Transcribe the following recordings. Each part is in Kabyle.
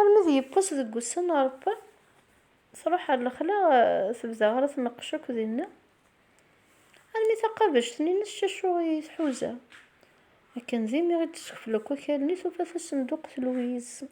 Armi d yiwwas deg wussan arebban, truḥ ɣer lexla, tebda ɣer tneqqec akk dinna, armi taqabect-nni n ccacu i tḥuza. Akken d imi i d-teskefl akk akal-nni, tufa tasenduqt Louise.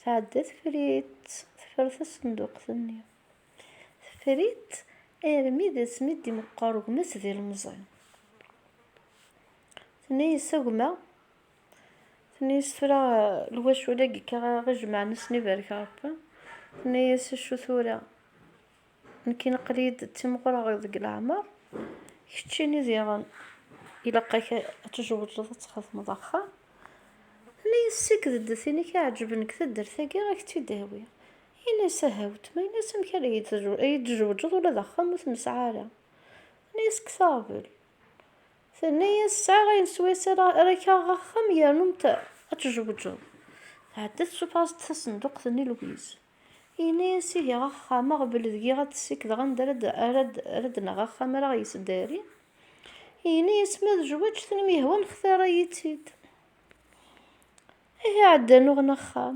Tɛedda teffer-itt, teffer tasenduqt-nni. Teffer-itt armi d asmi d-imeqqer ugma-s d ilemẓi. Tenna-yas, a gma, Tenna-yas tura lwacu-agi akka ara ɣ-ijemɛen ass-nni barek Rebbi, tenna-yas acu tura, nekkini aql-iyi-d d timɣureɣ deg leɛmer, keččini diɣen ilaq-ak ad tjewwǧeḍ ad txedmeḍ axxam, tenna-yas ssikked-d tin i k-iɛeǧben deg taddart-agi ad ak-tt-id-awiɣ, yenna-yas aha wetma, yenna-yas amek ara iyi-d-tjewwǧeḍ ula d axxam ur t-nesɛi ara, tenna-yas kkes aɣbel, Tenna-yas, Sɛiɣ ayen swayes ara kaɣeɣ axxam yernu ad tjewǧeḍ. Tɛedda tsuffeɣ-as-d tasenduqt-nni lwiz. Yenna-yas, Ihi axxam-a ɣbel deg-i ad t-ssikdeɣ anda ara d-naɣ axxam ara ɣ-yesdari. Yenna-yas, Ma d jwejt n myehwa nxtara-yi-tt-id. Ihi ɛeddan uɣen axxam.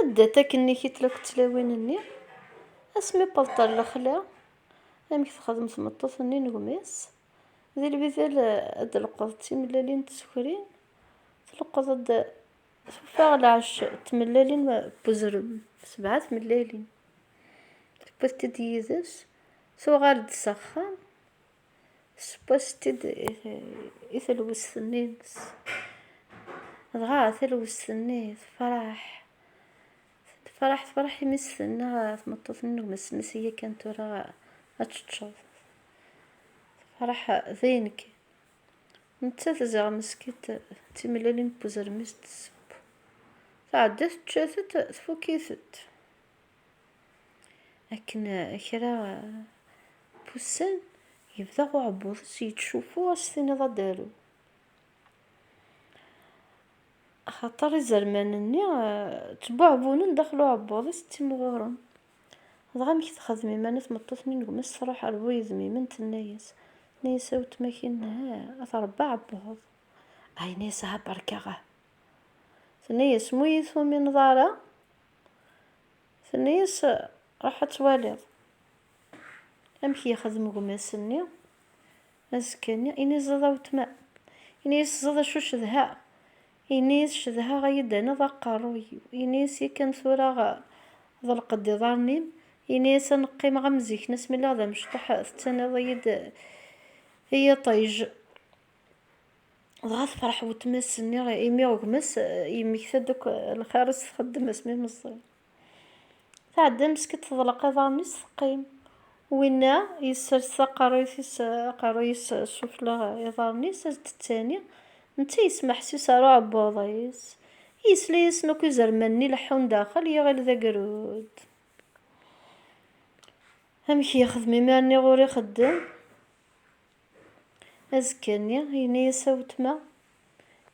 Anda-t akkenni kitl akked tlawin-nni? Asmi wweḍ-d ɣer lexla, amek texdem tmeṭṭut-nni n gma-s? Di lbidal ad d-tleqqeḍ d timellalin n tsekrin, tleqqeḍ-d tufa ɣer lɛecc d tmellalin n wezrem, sebɛa tmellalin, tewwiḍ-t-id yid-s, tuɣal-d s axxam. Tesseww-as-tt-id i telwest-nni-ines. Dɣa talwest-nni tefreḥ. Tefreḥ, tefreḥ imi s-tenna tmeṭṭut-nni n gma-s-nni s iyya kan tura ad teččeḍ. Tefreḥ dayen kan. Nettat ziɣ meskint d timellalin n uzrem i s-d-tesseww. Tɛedda tečča-tent, tfukk-itent. Akken kra n wussan, yebda uɛebbuḍ-is yettcuffu ad s-tiniḍ ad d-tarew. Axaṭer izerman-nni ttbuɛbunen daxel uɛebbuḍ-is, ttimɣuren. Dɣa amek texdem iman-a tmeṭṭut-nni n gma-s? Truḥ ar bu yedmimen, tenna-yas, tenna-yas a wetma-k-in, a tṛebba aɛebbuḍ. Ay, yenna-yas, aha berka, aha. Tenna-yas, ma ur iyi-tumineḍ ara, Tenna-yas, Ruḥ ad twaliḍ amek yexdem gma-s-nni azekka-nni, ini-zed a wetma. Ini-yas, Ẓẓed acu cedhaɣ. Ini-yas, Cedhaɣ a yi-d-taniḍ aqerruy-iw. Ini-yas, Yakan tura ḍelq-d iḍarren-im. Ini-yas, Ad n-qqimeɣ am zik nes mi lliɣ d amecṭuḥ, tettaniḍ-iyi-d i yiṭij. dɣa tefreḥ wetma-s nni imi gma-s yemmekta-d akk lxir i s-txeddem asmi i meẓẓi. Tɛedda meskint teḍleq iḍarren-is teqqim. Winna yessers taqerruyt-is aqerruy-is sufella iḍarren-is ad d-ttani, netta yesmeḥsis ar uɛebbuḍ-is, yesla-yasen akk izerman-nni leḥḥun daxel, yiɣil d agrud. Amek yexdem imir-nni ɣur ixeddem? Azekka-nni, yenna-yas a wetma,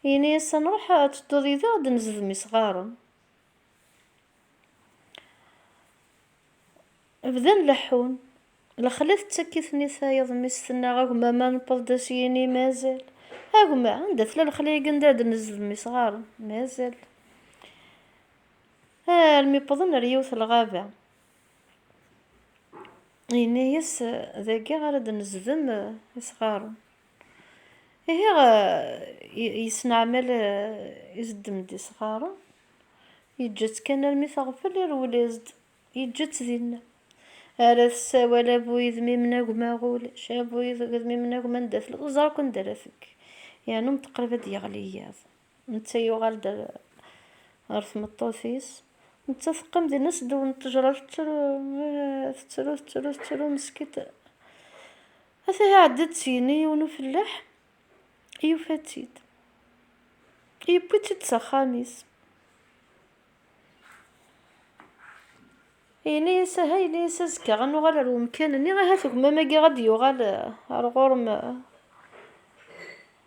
yenna-yas a nruḥ ad tedduḍ yid-eɣ ad d-nezedem isɣaren. Bdan leḥḥun. Lexla tettak-iten i tayeḍ-mis, tenna, a gma ma newweḍ-d a s-yini mazal. A gma, anda tella lexla-agi anda ad d-nezedem isɣaren? Mazal. Armi wwḍen ar yiwet lɣaba. Yenna-yas, Dagi ara d-nezdem isɣaren. Ihi yesneɛmal izdem-d isɣaren, yeǧǧa-tt kan armi teɣfel, irwel-as-d, yeǧǧa-tt dinna. Ara tessawal, a bu yidmim n agma ulac, a bu yidmim n agma anda tella, ur teẓri akk anda ara tekk, yernu meṭṭeqrib ad d-yeɣli yiḍ. Netta yuɣal-d ɣer tmeṭṭut-is. Nettat teqqim din s ddew n ttejra tettru, tettru, tettru, tettru, meskint. Ata iɛedda-d syin i yiwen ufellaḥ, yufa-tt-id. Yewwi-tt-id s axxam-is. Yenna-yas aha, yenna-yas azekka ad nuɣal ar wemkan-nni, ahat gma-agi ad d-yuɣal ar ɣur-m.